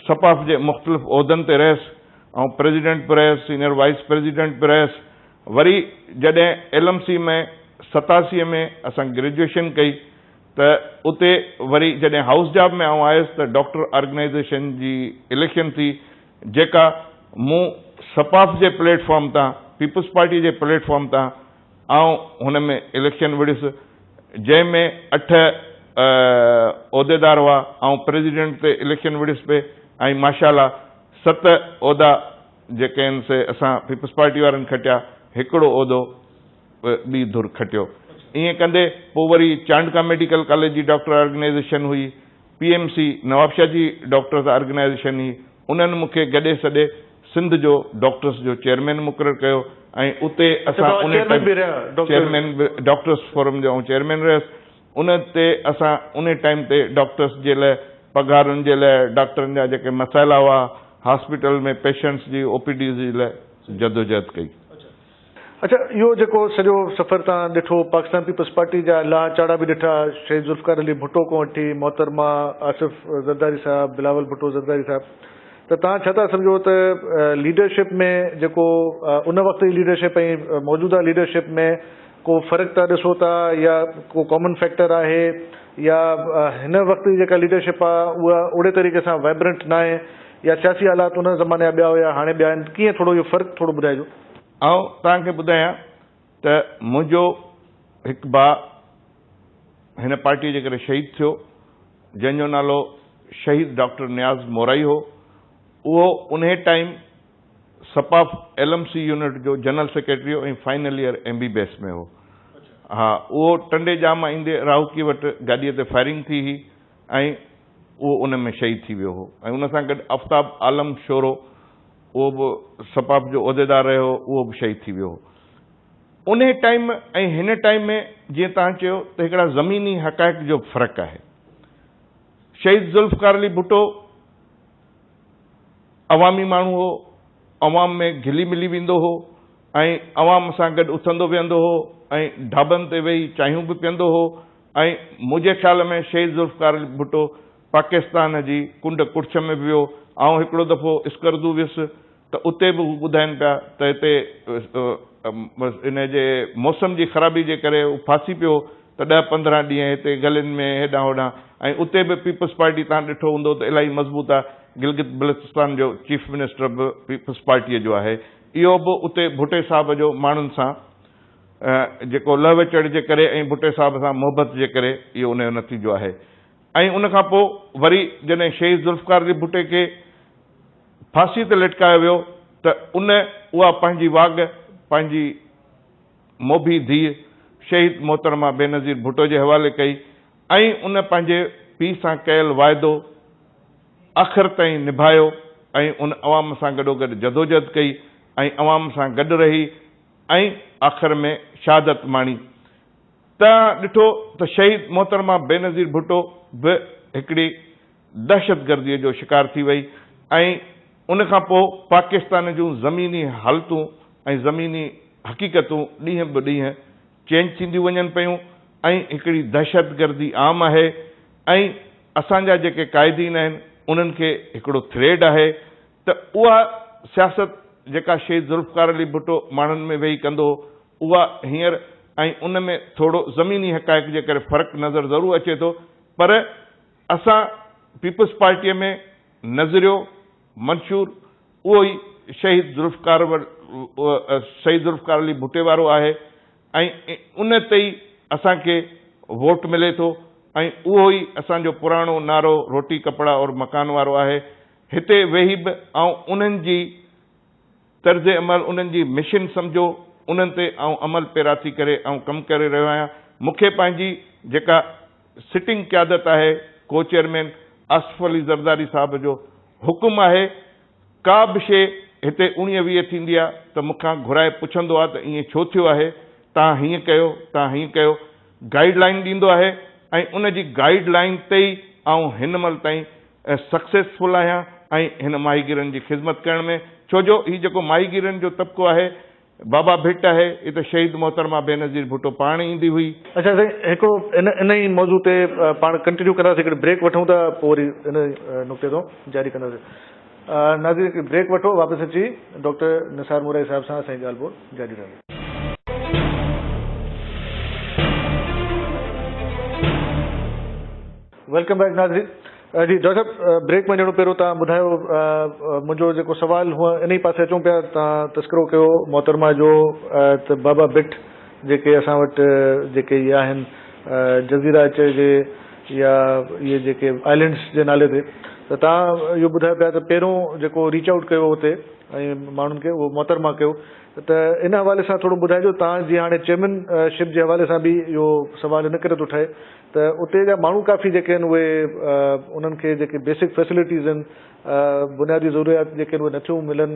س پ جي مختلف عهدن تي رهيس، آئون پريزيڊنٽ به رهيس، سينئر وائيس پريزيڊنٽ به رهيس، وري جڏهن ايل ايم سي ۾ ستاسي ۾ اسان گريجوئيشن ڪئي ته اتي وري جڏهن هائوس جاب ۾ آئون آيس ته ڊاڪٽر آرگنائيزيشن جي اليڪشن ٿي جيڪا مون س پ جي پليٽ فارم تان پيپلز پارٽي جي پليٽ فارم تان آئون هن ۾ اليڪشن وڙهيس، جنهن ۾ اٺ عهديدار هئا، آئون پريزيڊنٽ تي اليڪشن وڙهيس پئي ۽ ماشاء الله ست عهدا جيڪي آهن سي اسان پيپلز پارٽي وارن کٽيا، هڪڙو عهدو به ٻي ڌر کٽيو. ائين ڪندي پوء وري چانڊڪا ميڊيڪل ڪاليج جي ڊاڪٽر آرگنائيزيشن هئي، پي ايم سي نوابشاهه جي ڊاڪٽرز آرگنائيزيشن هئي، انهن مون کي گڏي سڏي سنڌ جو ڊاڪٽرس جو چيئرمين مقرر ڪيو ۽ اتي اسان ان ٽائيم چيئرمين به ڊاڪٽرس فورم جو آئون چيئرمين رهيس ان تي اسان ان ٽائيم تي ڊاڪٽرس جي لاء پگهارن جي لاء ڊاڪٽرن جا جيڪي مسئلا هئا هاسپيٽل ۾ پيشنٽس جي او پي ڊيز جي لاء جدوجهد ڪئي. اچا اهو جيڪو سڄو سفر تان ڏٺو پاڪستان پيپلز پارٽي جا لاهه چاڙها به ڏٺا شهيد ذوالفقار علي ڀٽو کان وٺي محترمه آصف زرداري صاحب بلاول ڀٽو زرداري صاحب ته تان ڇا ٿا سمجهو ته ليڊرشپ ۾ جيڪو ان وقت جي ليڊرشپ ۽ موجوده ليڊرشپ ۾ ڪو فرق ٿا ڏسو ٿا يا ڪو ڪامن فيڪٽر آهي يا هن وقت جي جيڪا ليڊرشپ آهي اها اوڙي طريقي سان وائبرنٽ ناهي يا سياسي حالات ان زماني جا ٻيا هيا هاڻي ٻيا آهن ڪيئن ٿورو اهو فرق ٿورو ٻڌائجو. آئون توهان کي ٻڌايان ته منهنجو هڪ ڀاء هن پارٽيء جي ڪري شهيد ٿيو جنهن جو نالو شهيد ڊاڪٽر نياز مورائي هو اهو انهي ٽائيم سپاف ايل ايم سي يونٽ جو general secretary ۽ final year M B B S ۾ هو ها اهو ٽنڊي ڄام ايندي راهوڪي وٽ گاڏيء تي فائرنگ ٿي هئي ۽ اهو ان ۾ شهيد ٿي ويو هو ۽ ان سان گڏ آفتاب عالم شورو اهو به س پ جو عهديدار رهيو هو اهو به شهيد ٿي ويو هو انهي ٽائيم ۽ هن ٽائيم ۾ جيئن توهان چيو ته هڪڙا زميني حقائق جو به فرق آهي شهيد ذوالفقار علي ڀٽو عوامي ماڻهو هو عوام ۾ گهلي ملي ويندو هو ۽ عوام سان گڏ اٿندو ويهندو هو ۽ ڍابن تي ويهي چانهيون به پيئندو هو ۽ منهنجي خيال ۾ شهيد ذوالفقار علي ڀٽو پاڪستان جي ڪنڊ ڪڙڇ ۾ به ويو، آئون هڪڙو دفعو اسڪردو ويس ته اتي به هو ٻڌائين پيا ته هتي انهي جي موسم جي خرابي جي ڪري هو ڦاسي پيو ته ڏهه پندرهن ڏينهن هتي گلين ۾ هيڏانهن هوڏانهن ۽ اتي به پيپلز پارٽي تهان ڏٺو هوندو ته الاهي مضبوط آهي، گلگت بلتستان جو چيف منسٽر به پيپلز پارٽيء جو آهي، اهو به اتي ڀٽي صاحب جو ماڻهن سان. جيڪو لهوي چڙهه جي ڪري ۽ ڀٽي صاحب سان محبت جي ڪري اهو ان جو نتيجو آهي ۽ ان کان پوء وري جڏهن شهيد ذوالفقار علي ڀٽي کي ڦاسي تي لٽڪايو ويو ته ان اها پنهنجي واڳ پنهنجي موڀي ڌيء شهيد محترمه بينظير ڀٽو جي حوالي ڪئي ۽ ان پنهنجي پيء سان ڪيل واعدو آخر تائين نڀايو ۽ ان عوام سان گڏوگڏ جدوجهد ڪئي ۽ عوام سان گڏ رهي ۽ آخر ۾ شهادت ماڻي. توهان ڏٺو ته شهيد محترمه بينظير ڀٽو به هڪڙي دهشتگرديء جو شڪار ٿي وئي ۽ ان کان پوء پاڪستان جون زميني حالتون ۽ زميني حقيقتون ڏينهن به ڏينهن چينج ٿينديون وڃن پيون ۽ هڪڙي دهشتگردي عام آهي ۽ اسان جا جيڪي قائدين آهن انهن کي هڪڙو ٿريڊ آهي ته اها سياست جيڪا شهيد ذوالفقار علي ڀٽو ماڻهن ۾ ويهي ڪندو هو اها هينئر ۽ ان ۾ ٿورو زميني حقائق جي ڪري فرق نظر ضرور اچي ٿو پر اسان پيپلز پارٽيء ۾ نظريو منشور اهو ئي شهيد ذوالفقار شهيد ذوالفقار علي ڀٽي وارو آهي ۽ ان تي ئي اسان کي ووٽ ملي ٿو ۽ اهو ئي اسان جو پراڻو نعرو روٽي ڪپڙا اور مڪان وارو آهي هتي ويهي به آئون انهن جي طرز عمل، انهن جي مشن سمجهو، انهن تي آئون عمل پيرا ٿي ڪري آئون ڪم ڪري رهيو آهيان. مون کي پنهنجي جيڪا سٽنگ قيادت آهي ڪو چيئرمين آصف علي زرداري صاحب جو حڪم آهي، ڪا به شيء هتي اوڻيهه ويهه ٿيندي آ ته مون کان گهرائي پڇندو آ ته ائين ڇو ٿيو آهي، تان هيئن ڪيو، تان هيئن ڪيو، گائيڊ لائين ڏيندو آهي ۽ ان جي گائيڊ لائين تي ئي آئون هن مهل تائين سڪسيسفل آهيان ۽ هن ماهيگيرن جي خدمت ڪرڻ ۾ ڇو جو هي جيڪو ماهيگيرن جو طبقو آهي بابا ڀٽ آهي هي ته شهيد محترمه بينظير ڀٽو پاڻ ايندي هئي. اچا سائين هڪڙو ان ان ئي موضوع تي پاڻ ڪنٽينيو ڪنداسين هڪڙي بريڪ وٺون ٿا پوء وري ان نقطي تان جاري ڪنداسين ناظرين هڪڙي بريڪ وٺو واپس اچي ڊاڪٽر نثار مورائي صاحب سان اسان جي ڳالهه ٻولهه جاري رهندي. ويلڪم بيڪ ناظرين جي ڊاڪٽر صاحب بريڪ مان ڄڻو پهريون تان ٻڌايو منهنجو جيڪو سوال هو انهي پاسي اچون پيا تان تذڪرو ڪيو محترمه جو ته بابا بٽ جيڪي اسان وٽ جيڪي هي آهن جزيره اچ جي يا اهي جيڪي آئلينڊس جي نالي تي ته تان اهو ٻڌايو پيا ته پهريون جيڪو ريچ آئوٽ ڪيو اتي ۽ ماڻهن کي اهو محترمه ڪيو ته ان حوالي سان ٿورو ٻڌائجو تان جي هاڻي چيئرمين شپ جي حوالي سان به اهو سوال ان ڪري ٿو ٺهي ته اتي جا ماڻهو ڪافي جيڪي آهن اهي انهن کي جيڪي بيسڪ فيسلٽيز آهن بنيادي ضروريات جيڪي آهن اهي نٿيون ملن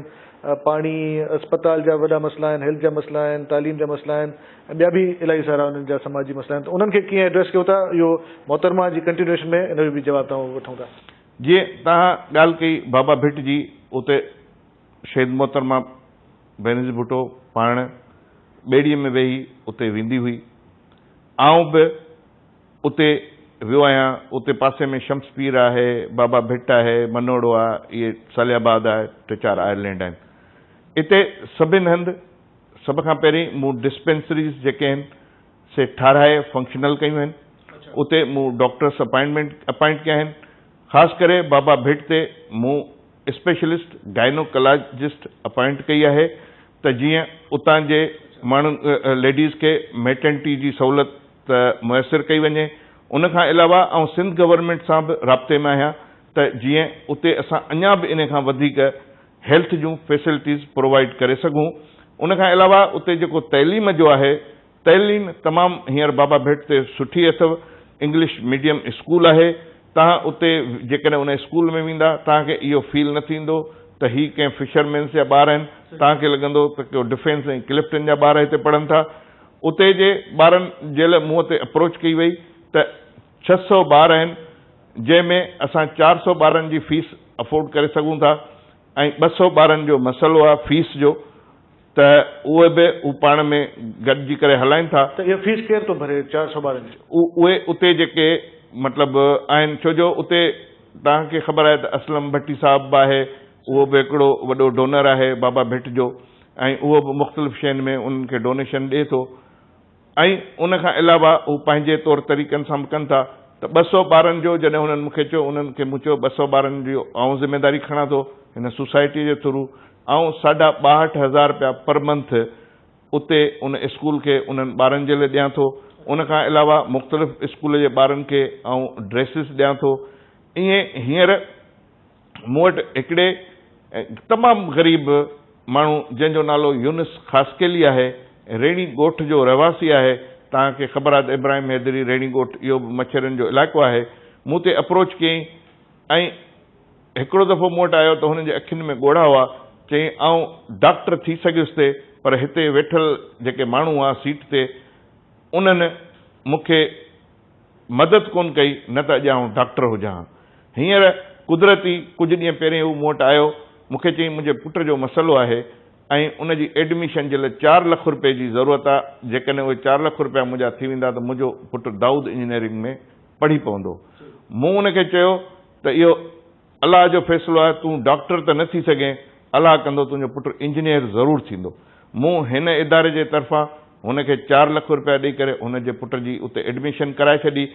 پاڻي اسپتال جا وڏا مسئلا آهن هيلٿ جا مسئلا آهن تعليم جا مسئلا آهن ۽ ٻيا به الائي سارا انهن جا سماجي مسئلا آهن ته انهن کي ڪيئن ايڊريس ڪيو ٿا اهو محترمه جي ڪنٽينيوئيشن ۾ ان جو به جواب توهان وٺون ٿا. جيئن توهان ڳالهه ڪئي بابا ڀٽ جي اتي شهيد محترمه بينظير ڀٽو پاڻ ٻيڙيء ۾ ويهي اتي ويندي هئي آئون به اتي ويو آهيان. اتي پاسي ۾ شمس پير آهي، بابا ڀٽ آهي، منوڙو آ، اهي صالح آباد آهي، ٽي چار آئرلينڊ آهن. اتي سڀن هنڌ سڀ کان پهرين مون ڊسپينسريز جيڪي آهن سي ٺاهرائي فنڪشنل ڪيون آهن. اتي مون ڊاڪٽرس اپائنٽمينٽ اپائنٽ ڪيا آهن. خاص ڪري بابا ڀٽ تي مون اسپيشلسٽ گائنوڪالاجسٽ اپائنٽ ڪئي آهي ته جيئن اتان جي ماڻهن ليڊيز کي ميٽرنٽي جي سهولت ميسر ڪئي وڃي ان کان علاوه آئون سنڌ گورنمينٽ سان به رابطي ۾ آهيان ته جيئن اتي اسان اڃا به ان کان وڌيڪ هيلٿ جون فيسلٽيز پرووائيڊ ڪري سگهون ان کان علاوه اتي جيڪو تعليم جو آهي تعليم تمام هينئر بابا ڀٽ تي سٺي اٿو، انگلش ميڊيم اسڪول آهي، توهان اتي جيڪڏهن ان اسڪول ۾ ويندا توهان کي اهو فيل نه ٿيندو ته هي ڪنهن فشر مينس جا ٻار آهن، توهان کي لڳندو ته ڪو ڊفينس ۽ ڪلفٽن جا ٻار هتي پڙهن ٿا. اتي جي ٻارن جيل مون تي اپروچ ڪئي وئي ته ڇهه سؤ ٻار آهن جنهن ۾ اسان چار سؤ ٻارن جي فيس افورڊ ڪري سگهون ٿا ۽ ٻه سؤ ٻارن جو مسئلو آهي فيس جو، ته اهي به هو پاڻ ۾ گڏجي ڪري هلائين ٿا. ته اها فيس ڪير ٿو ڀري چار سوڀارين جي. اهي اتي جيڪي مطلب آهن ڇو جو اتي توهان کي خبر آهي ته اسلم ڀٽي صاحب به آهي اهو به هڪڙو وڏو ڊونر آهي بابا ڀٽ جو ۽ اهو به مختلف شين ۾ انهن کي ڊونيشن ڏي ٿو. ۽ ان کان علاوه هو پنهنجي طور طريقن سان به ڪن ٿا ته ٻه سؤ ٻارن جو جڏهن هنن مون کي چيو انهن کي مون چيو ٻه سؤ ٻارن جي آئون ذميواري کڻان ٿو هن سوسائٽي جي ٿرو آئون ساڍا ٻاهٺ هزار رپيا پر منٿ اتي ان اسڪول کي انهن ٻارن جي لاء ڏيان ٿو ان کان علاوه مختلف اسڪول جي ٻارن کي آئون ڊريسز ڏيان ٿو ائين هينئر مون وٽ هڪڙي تمام غريب ماڻهو جنهن جو نالو يونس خاصخيلي آهي، ريڻي ڳوٺ جو رهواسي آهي، توهان کي خبر آهي ته ابراهيم حيدري ريڻي ڳوٺ اهو به مڇرين جو علائقو آهي، مون تي اپروچ ڪيئي ۽ هڪڙو دفعو مون وٽ آيو ته هن جي اکين ۾ ڳوڙها هئا، چيائين آئون ڊاڪٽر ٿي سگهيس ٿي پر هتي ويٺل جيڪي ماڻهو هئا سيٽ تي انهن مون کي مدد ڪونه ڪئي، نه ته اڄ آئون ڊاڪٽر هجان ها. هينئر قدرتي ڪجهه ڏينهن پهرين هو مون وٽ آيو. مون کي چيائين، منهنجي پٽ جو مسئلو آهي ۽ ان جي ايڊميشن جي لاء چار لک روپيه جي ضرورت آهي. جيڪڏهن اهي چار لک روپيا منهنجا ٿي ويندا ته منهنجو پٽ دائود انجنيئرنگ ۾ پڙهي پوندو. مون ان کي چيو ته اهو. الله جو فيصلو آهي تون ڊاڪٽر ته نه ٿي سگهين الله ڪندو تنهنجو پٽ انجنيئر ضرور ٿيندو مون هن اداري جي طرفان هن کي چار لک روپيا ڏئي ڪري هن جي پٽ جي اتي ايڊميشن ڪرائي ڇڏي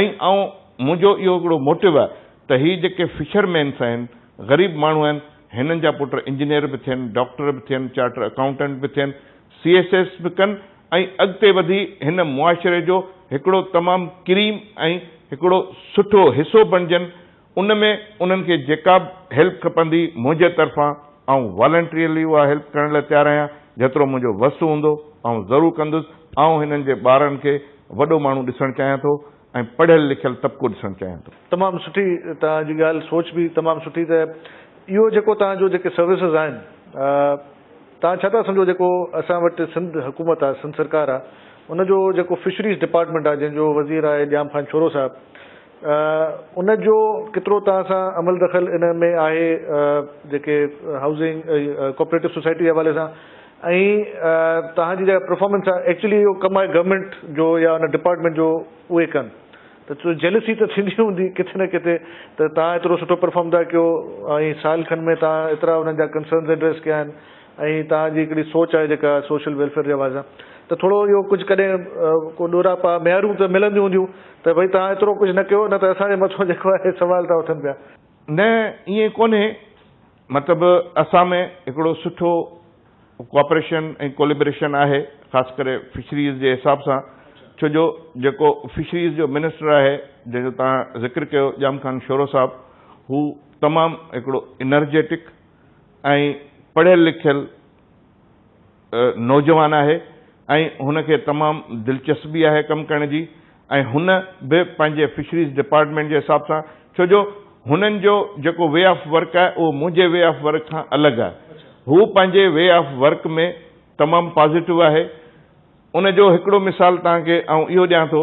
۽ آئون منهنجو اهو هڪڙو موٽو آهي ته هي جيڪي فشر مينس آهن غريب ماڻهو آهن هنن جا پٽ انجنيئر به ٿين ڊاڪٽر به ٿين چارٽر اڪائونٽنٽ به ٿين سي ايس ايس به ڪن ۽ اڳتي وڌي هن معاشري جو هڪڙو تمام ڪريم ۽ هڪڙو سٺو حصو بڻجن ان ۾ انهن کي جيڪا به هيلپ کپندي منهنجي طرفان آئون والنٽريلي اها هيلپ ڪرڻ لاء تيار آهيان جيترو منهنجو وس هوندو آئون ضرور ڪندس آئون هنن جي ٻارن کي وڏو ماڻهو ڏسڻ چاهيان ٿو ۽ پڙهيل لکيل طبقو ڏسڻ چاهيان ٿو. تمام سٺي توهان جي ڳالهه سوچ به تمام سٺي ته اهو جيڪو توهان جو جيڪي سروسز آهن توهان ڇا ٿا سمجهو جيڪو اسان وٽ سنڌ حڪومت آهي سنڌ سرڪار آهي ان جو جيڪو فشريز ڊپارٽمينٽ آهي جنهن جو وزير آهي ڄام خان شورو صاحب ان جو ڪيترو توهان سان عمل دخل ان ۾ آهي جيڪي هائوسنگ ڪوپريٽو سوسائٽي جي حوالي سان ۽ توهان جي جيڪا پرفارمنس آهي ايڪچولي اهو ڪم آهي گورنمينٽ جو يا ان ڊپارٽمينٽ جو اهي ڪن ته جيلسي ته ٿيندي هوندي ڪٿي نه ڪٿي ته توهان ايترو سٺو پرفارم ٿا ڪيو ۽ سال کن ۾ توهان ايترا انهن جا ڪنسرنز ايڊريس ڪيا آهن ۽ توهان جي هڪڙي سوچ آهي جيڪا سوشل ويلفيئر جي حوالي سان ته ٿورو اهو ڪجهه ڪڏهن ڪو ڏورا پا ميارون ته ملنديون هونديون ته ڀئي توهان ايترو ڪجهه نه ڪيو نه ته اسان جي مٿو جيڪو آهي سوال ٿا اٿن پيا. نه ائين ڪونهي مطلب اسان ۾ هڪڙو سٺو ڪوآپريشن ۽ ڪوليبريشن آهي خاص ڪري فشريز جي حساب سان ڇو جو جيڪو فشريز جو منسٽر آهي جنهن جو توهان ذڪر ڪيو ڄام خان شورو صاحب هو تمام هڪڙو انرجيٽڪ ۽ پڙهيل لکيل نوجوان آهي ۽ هن کي تمام دلچسبي آهي ڪم ڪرڻ جي ۽ هن به پنهنجي فشريز ڊپارٽمينٽ جي حساب سان ڇو جو هنن جو جيڪو وي آف ورڪ آهي اهو منهنجي وي آف ورڪ کان الڳ آهي هو پنهنجي وي آف ورڪ ۾ تمام پازيٽو آهي ان جو هڪڙو مثال توهان کي آئون اهو ڏيان ٿو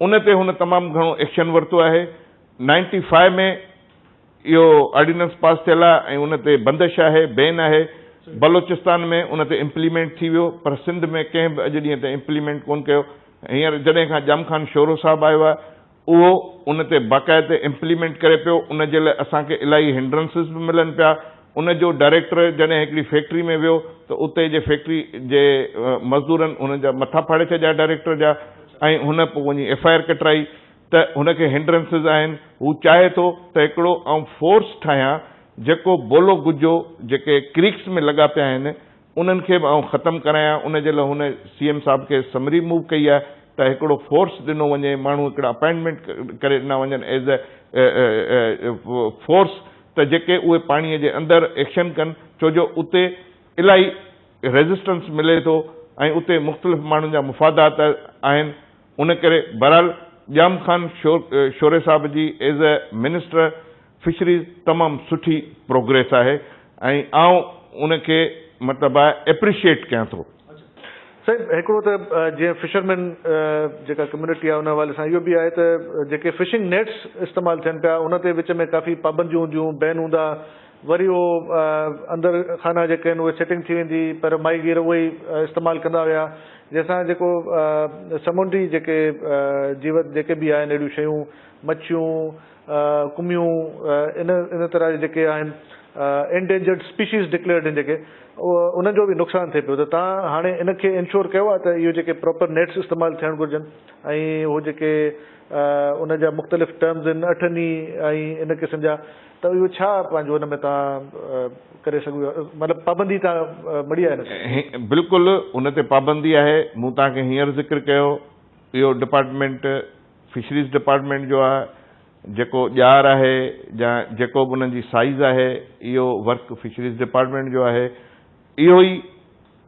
ان تي هن تمام گهڻو ايڪشن ورتو آهي. نائنٽي فائيو ۾ اهو آرڊيننس پاس ٿيل آهي ۽ ان تي بندش آهي، بين آهي. بلوچستان ۾ ان تي امپليمينٽ ٿي ويو پر سنڌ ۾ ڪنهن به اڄ ڏينهن تائين امپليمينٽ ڪونه ڪيو. هينئر جڏهن کان ڄام خان شورو صاحب آيو آهي اهو ان تي باقاعدي امپليمينٽ ڪري پيو، ان جي لاء اسان کي الاهي هنڊرنسز به ملن پيا. ان جو ڊائريڪٽر جڏهن هڪڙي فيڪٽري ۾ ويو ته اتي جي فيڪٽري جي مزدورن هن جا مٿا ڦاڙي ڇڏيا ڊائريڪٽر جا ۽ هن پوء وڃي ايف آء آر ڪٽرائي ته هن کي هنڊرنسز آهن هو چاهي ٿو ته هڪڙو آئون فورس ٺاهيان جيڪو بولو گجو جيڪي ڪريڪس ۾ لڳا پيا آهن انهن کي به آئون ختم ڪرايان ان جي لاء هن سي ايم صاحب کي سمري موو ڪئي آهي ته هڪڙو فورس ڏنو وڃي ماڻهو هڪڙا اپائنٽمينٽ ڪري ڏنا وڃن ايز اي فورس ته جيڪي اهي پاڻي جي اندر ايڪشن ڪن ڇو جو اتي الاهي ريزسٽنس ملي ٿو ۽ اتي مختلف ماڻهن جا مفادات آهن ان ڪري بهرحال ڄام خان شوري صاحب جي ايز اي منسٽر فشريز تمام سٺي پروگريس آهي ۽ آئون ان کي مطلب آء اپريشيئيٽ ڪيان ٿو. سائين هڪڙو ته جيئن فشرمين جيڪا ڪميونٽي آهي ان حوالي سان اهو به آهي ته جيڪي فشنگ نيٽس استعمال ٿين پيا ان تي وچ ۾ ڪافي پابنديون هونديون بين هوندا وري اهو اندر خانا جيڪي آهن اهي سيٽنگ ٿي ويندي پهريون ماهي گير اهو ئي استعمال ڪندا هيا جنهن سان جيڪو سمنڊي جيڪي جيوت جيڪي به آهن اهڙيون شيون مڇيون ڪميون ان ان طرح جي جيڪي آهن انڊينجرڊ اسپيشيز ڊڪليئرڊ آهن جيڪي انهن جو به نقصان ٿئي پيو ته تان هاڻي ان کي انشور ڪيو آهي ته اهو جيڪي پراپر نيٽس استعمال ٿيڻ گهرجن ۽ هو جيڪي ان جا مختلف ٽرمز آهن اٺن ئي ۽ ان قسم جا ته اهو ڇا پنهنجو ان ۾ تان ڪري سگهو مطلب پابندي تان مڙي آهي ان تي. بلڪل ان تي پابندي آهي مون تان کي هينئر ذڪر ڪيو اهو ڊپارٽمينٽ فشريز ڊپارٽمينٽ جو آهي جيڪو ڄار آهي يا جيڪو به انهن جي سائيز آهي اهو ورڪ فشريز ڊپارٽمينٽ جو آهي اهو ئي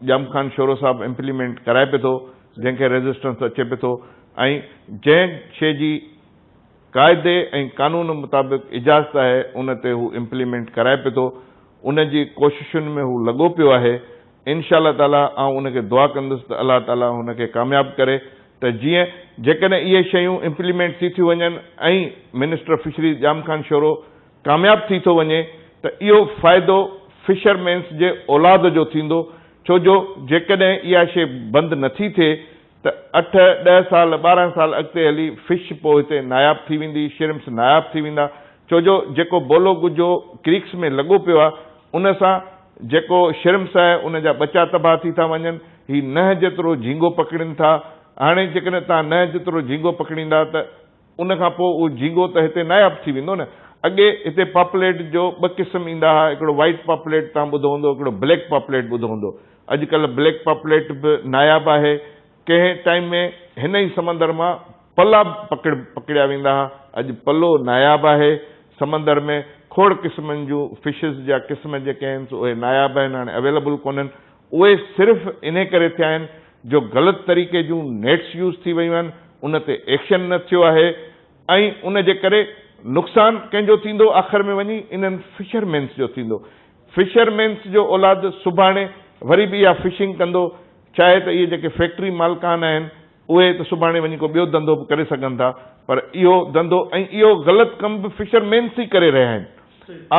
ڄام خان شورو صاحب امپليمينٽ ڪرائي پئي ٿو جنهن کي ريزسٽنس اچي پئي ٿو ۽ جنهن شي جي قاعدي ۽ قانون مطابق اجازت آهي ان تي هو امپليمينٽ ڪرائي پئي ٿو ان جي ڪوششن ۾ هو لڳو پيو آهي انشاء الله تعاليٰ آئون ان کي دعا ڪندس ته الله تعاليٰ هن کي ڪامياب ڪري ته جيئن جيڪڏهن اهي شيون امپليمينٽ ٿي ٿيون وڃن ۽ منسٽر فشريز ڄام خان شورو ڪامياب ٿي ٿو وڃي ته اهو فائدو فشر مينس جي اولاد جو ٿيندو ڇو جو جيڪڏهن اها شي بند نٿي ٿئي ته اٺ، ڏهه سال، ٻارهن سال اڳتي هلي فش پوء هتي ناياب ٿي ويندي، شرمپس ناياب ٿي ويندا، ڇو جو جيڪو بولو ڳجهو ڪريڪس ۾ لڳو پيو آهي، ان سان جيڪو شرمپس آهي، ان جا ٻچا تباهه ٿي ٿا وڃن، هي ننهن جيترو جهينگو پڪڙين ٿا، هاڻي جيڪڏهن توهان ننهن جيترو جهينگو پڪڙيندا ته. ان کان پوء اهو جهينگو ته هتي ناياب ٿي ويندو نه. اڳي هتي پاپليٽ جو ٻه قسم ايندا ها، هڪڙو وائيٽ پاپليٽ توهان ٻڌو هوندو، هڪڙو بليڪ پاپليٽ ٻڌو هوندو. اڄڪلهه بليڪ پاپليٽ به ناياب آهي. ڪنهن ٽائيم ۾ هن ئي سمندر مان پلا به پڪڙيا ويندا ها. اڄ پلو ناياب آهي. سمندر ۾ کوڙ قسمن جون فشز جا قسم جيڪي آهن سو اهي ناياب آهن هاڻي اويليبل ڪونهن. اهي صرف انهي ڪري ٿيا آهن جو غلط طريقي جون نيٽس يوز ٿي ويون آهن، ان تي ايڪشن نه ٿيو آهي ۽ ان جي ڪري نقصان ڪنهن جو ٿيندو آخر ۾ وڃي انهن فشر مينس جو ٿيندو. فشر مينس جو اولاد سڀاڻي وري به اها فشنگ ڪندو چاهي ته اهي جيڪي فيڪٽري مالڪان آهن، اهي ته سڀاڻي وڃي ڪو ٻيو ڌنڌو به ڪري سگهن ٿا پر اهو ڌنڌو ۽ اهو غلط ڪم به فشر مينس ئي ڪري رهيا آهن.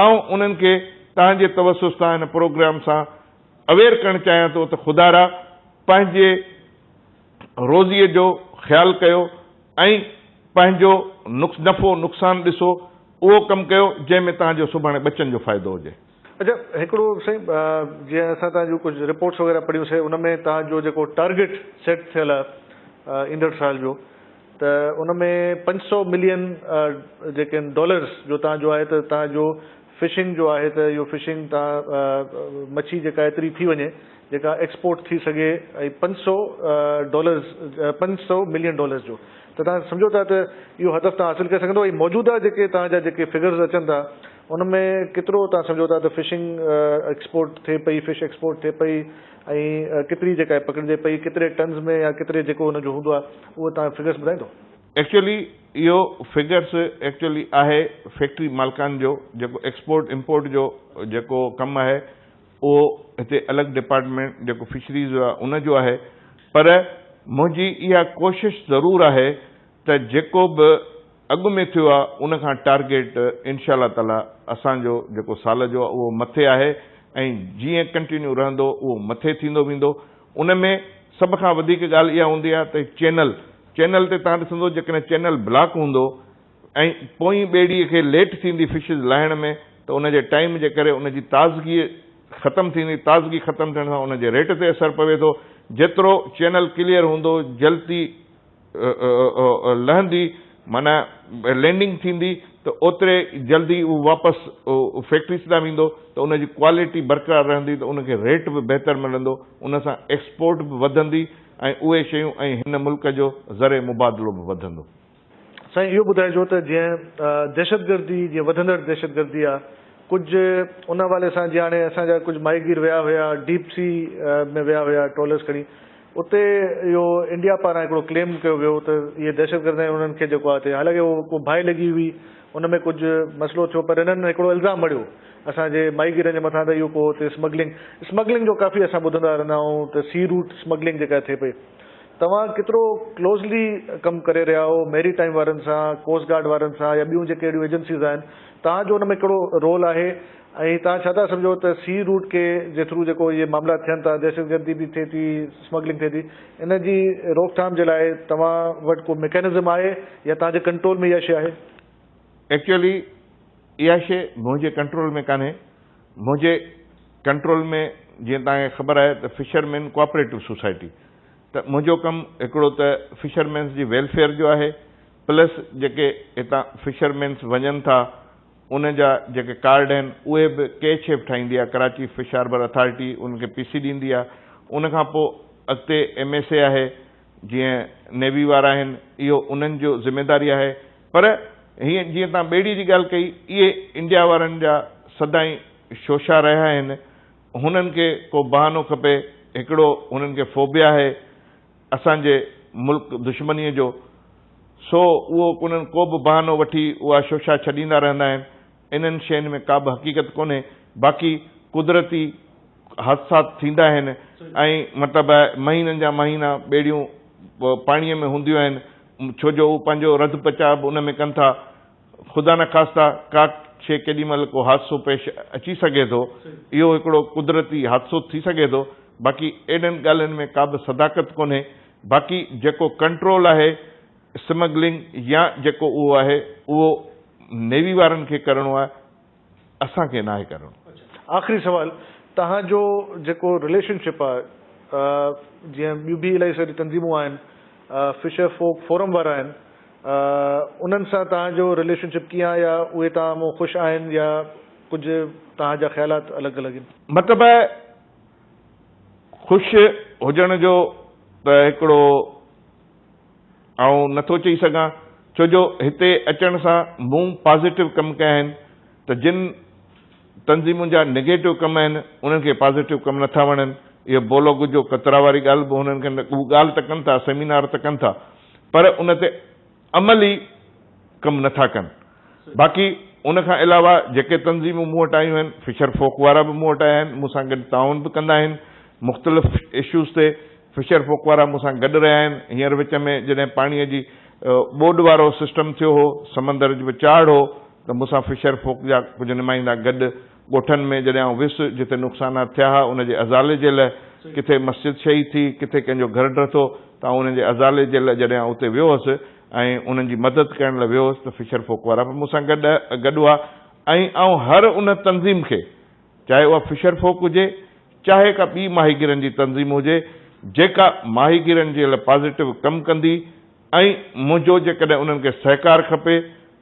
آئون انهن کي تنهنجي توسط سان هن پروگرام سان اويئر ڪرڻ چاهيان ٿو ته خدارا پنهنجي روزيء جو خيال ڪيو ۽ پنهنجو نفعو نقصان ڏسو اهو ڪم ڪيو جنهن ۾ تنهنجو سڀاڻي ٻچن جو فائدو هجي. اچا هڪڙو سائين جيئن اسان توهان جون ڪجهه رپورٽس وغيره پڙهيون سي ان ۾ توهان جو جيڪو ٽارگيٽ سيٽ ٿيل آ ايندڙ سال جو ته ان ۾ پنج سؤ ملين جيڪي ان ڊالرس جو توهان جو آهي ته توهان جو فشنگ جو آهي ته اهو فشنگ توهان مڇي جيڪا ايتري ٿي وڃي جيڪا ايڪسپورٽ ٿي سگهي ۽ پنج سؤ ڊالرس پنج سؤ ملين ڊالرس جو ته توهان سمجهو ٿا ته اهو هدف توهان حاصل ڪري سگهندا ۽ موجوده جيڪي توهان جا جيڪي فگرز اچن ٿا ان ۾ ڪيترو توهان سمجهو ٿا ته فشنگ ايڪسپورٽ ٿئي پئي، فش ايڪسپورٽ ٿئي پئي ۽ ڪيتري جيڪا پڪڙجي پئي، ڪيتري ٽنز ۾ يا ڪيتري جيڪو ان جو هوندو آهي اهو توهان فگرس ٻڌائيندو؟ ايڪچوئلي اهو فگرس ايڪچوئلي آهي فيڪٽري مالڪان جو جيڪو ايڪسپورٽ امپورٽ جو جيڪو ڪم آهي اهو هتي الڳ ڊپارٽمينٽ جيڪو فشريز جو آهي ان جو آهي پر منهنجي اها ڪوشش ضرور آهي ته جيڪو به اڳ ۾ ٿيو آ ان کان ٽارگيٽ انشاء الله تعالي اسان جو جيڪو سال جو آ اهو مٿي آهي ۽ جيئن ڪنٽينيو رهندو اهو مٿي ٿيندو ويندو ان ۾ سڀ کان وڌيڪ ڳالهه اها هوندي آ ته چينل چينل تي تهان ڏسندو جيڪڏهن چينل بلاڪ هوندو ۽ پوئين ٻيڙي کي ليٽ ٿيندي فشز لاهڻ ۾ ته ان جي ٽائيم جي ڪري ان جي تازگي ختم ٿيندي تازگي ختم ٿيڻ سان ان جي ريٽ تي اثر پوي ٿو جيترو چينل ڪليئر هوندو جلتي لهندي معنيٰ لينڊنگ ٿيندي ته اوتري جلدي اهو واپس فيڪٽريز ڏانهن ويندو ته ان جي ڪوالٽي برقرار رهندي ته ان کي ريٽ به بهتر ملندو ان سان ايڪسپورٽ به وڌندي ۽ اهي شيون ۽ هن ملڪ جو زرعي مبادلو به وڌندو. سائين اهو ٻڌائجو ته جيئن دهشتگردي جيئن وڌندڙ دهشتگردي آهي ڪجهه ان حوالي سان جيئن هاڻي اسان جا ڪجهه ماهيگير ويا هيا ڊيپ سي ۾ ويا هيا ٽرالرز کڻي اتي اهو انڊيا پاران هڪڙو ڪليم ڪيو ويو ته اهي دهشتگرد ۽ انهن کي جيڪو آهي اتي حالانڪه اهو ڪو باهه لڳي هئي ان ۾ ڪجهه مسئلو ٿيو پر انهن هڪڙو الزام هڻيو اسان جي ماهيگيرن جي مٿان ته اهو ڪو اتي اسمگلنگ اسمگلنگ جو ڪافي اسان ٻڌندا رهندا آهيون ته سي روٽ اسمگلنگ جيڪا ٿئي پئي توهان ڪيترو ڪلوزلي ڪم ڪري رهيا آهو ميري ٽائيم وارن سان ڪوسٽ گارڊ وارن سان يا ٻيون جيڪي اهڙيون ايجنسيز آهن توهان جو ان ۾ ڪهڙو رول آهي ۽ توهان ڇا ٿا سمجهو ته سي روٽ ڪي جي ٿرو جيڪو اهي معاملا ٿين ٿا دهشتگردي به ٿئي ٿي اسمگلنگ ٿئي ٿي ان جي روڪٿام جي لاء توهان وٽ ڪو ميڪانزم آهي يا توهان جي ڪنٽرول ۾ اها شي آهي؟ ايڪچوئلي اها شي منهنجي ڪنٽرول ۾ ڪانهي منهنجي ڪنٽرول ۾ جيئن توهان کي خبر آهي ته fisherman cooperative society ته منهنجو ڪم هڪڙو ته فشر مينس جي ويلفيئر جو آهي پلس جيڪي هتان فشر مينس وڃن ٿا ان جا جيڪي ڪارڊ آهن اهي به ڪي شيپ ٺاهيندي آهي ڪراچي فش هاربر اٿارٽي انهن کي پيسي ڏيندي آهي ان کان پوء اڳتي ايم ايس اي آهي جيئن نيوي وارا آهن اهو انهن جو ذميداري آهي پر هيئن جيئن تان ٻيڙي جي ڳالهه ڪئي اهي انڊيا وارن جا سدائين شوشا رهيا آهن هنن کي ڪو بهانو کپي هڪڙو هنن کي فوبيا آهي اسان جي ملڪ دشمنيء جو، سو اهو انهن ڪو به بهانو وٺي اها شوشا ڇڏيندا رهندا آهن. انهن شين ۾ ڪابه حقيقت ڪونهي، باقي قدرتي حادثات ٿيندا آهن ۽ مطلب آهي مهينن جا مهينا ٻيڙيون پاڻيء ۾ هونديون آهن، ڇو جو اهو پنهنجو رڌ پچاء به ان ۾ ڪن ٿا. خدا نخواسته ڪا شيء ڪيڏي مهل ڪو حادثو پيش اچي سگهي ٿو، اهو هڪڙو قدرتي حادثو ٿي سگهي ٿو، باقي اهڙين ڳالهين ۾ ڪابه صداقت ڪونهي، باقي جيڪو ڪنٽرول آهي اسمگلنگ يا جيڪو اهو آهي اهو نيوي وارن کي ڪرڻو آهي، اسان کي ناهي ڪرڻو. آخري سوال توهان جو جيڪو رليشن شپ آهي جيئن ٻيون به الائي ساريون تنظيمون آهن فشر فوڪ فورم وارا آهن انهن سان توهان جو رليشن شپ ڪيئن آهي يا اهي توهان مون خوش آهن يا ڪجهه توهان جا خيالات الڳ الڳ ان. مطلب خوش هجڻ جو ته هڪڙو. آئون نه ٿو چئي سگهان ڇو جو هتي اچڻ سان مون پازيٽو ڪم ڪيا آهن ته جن تنظيمون جا نيگيٽو ڪم آهن انهن کي پازيٽو ڪم نه ٿا وڻن اهو بولو گجو ڪترا واري ڳالهه به هنن کي هو ڳالهه ته ڪن ٿا سيمينار ته ڪن ٿا پر ان تي عملي ڪم نه ٿا ڪن. باقي ان کان علاوه جيڪي تنظيمون مون وٽ آيون آهن، فشر فوڪ وارا به مون وٽ آيا آهن، مون سان گڏ تعاون به ڪندا آهن، مختلف اشوز تي فشر فوڪ وارا مون سان گڏ رهيا آهن، هينئر وچ ۾ جڏهن پاڻي جي ٻوڏ وارو سسٽم ٿيو هو، سمندر به چاڙهه هو ته مون سان فشر فوڪ جا ڪجهه نمائندا گڏ ڳوٺن ۾ جڏهن آئون ويس، جتي نقصانات ٿيا ها، ان جي ازالي جي لئه ڪٿي مسجد شهيد ٿي، ڪٿي ڪنهن جو گهر ڊهه ٿو، ته آئون انهن جي ازالي جي لئه جڏهن آئون اتي ويو هوس ۽ انهن جي مدد ڪرڻ لئه ويو هوس ته فشر فوڪ وارا به مون سان گڏ گڏ هئا ۽ آئون هر ان تنظيم کي چاهي اها فشر فوڪ هجي چاهي ڪا ٻي ماهيگيرن جي تنظيم هجي جيڪا ماهيگيرن جي لئه پازيٽو ڪم ڪندي ۽ منهنجو جيڪڏهن انهن کي سهڪار کپي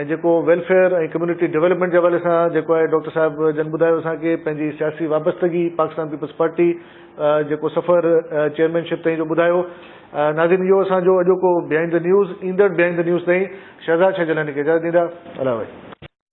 ۽ جيڪو ويلفيئر ۽ ڪميونٽي ڊيولپمينٽ جي حوالي سان جيڪو آهي ڊاڪٽر صاحب جن ٻڌايو اسان کي پنهنجي سياسي وابستگي پاڪستان پيپلز پارٽي جيڪو سفر چيئرمين شپ تائين جو ٻڌايو ناظرين اهو اسان جو اڄوڪو بهائينڊ دي نيوز ايندڙ بهائينڊ دي نيوز تائين شهزاد شاهه جيلاني کي اجازت ڏيندا الله حافظ.